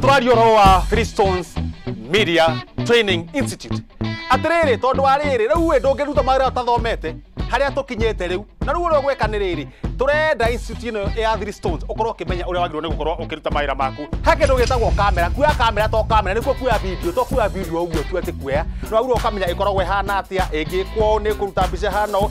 tũraria ũhoro wa Freestones Media Training Institute atĩrĩrĩ tondũ wa rĩrĩ rĩu ĩ ndũngĩruta mawĩra ũtathomete harĩa tũkinyĩte rĩu na rĩu ũrĩa gwĩka nĩ rĩrĩ tũrenda institute ĩno ya Three Stones ũkorwo ũkĩmenya ũrĩa wagĩrĩirwo nĩ gũkorwo ũkĩruta mawĩra maku ha kĩndũ gĩtagwo kamera kuoya kamera to kamera nĩkuo kuoya video to kuoya video ũguo tu atĩ kuoya nĩ wagĩrĩirwo ũkamenya ĩkoragwo ĩhana atĩa ĩngĩkwo ũũ nĩ ĩkũruta mbica ĩhana ũũ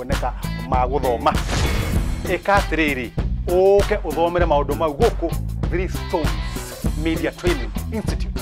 kuoneka ma gũthoma ĩka atĩrĩrĩ ũke ũthomere maũndũ mau gũkũ Three Stones Media Training Institute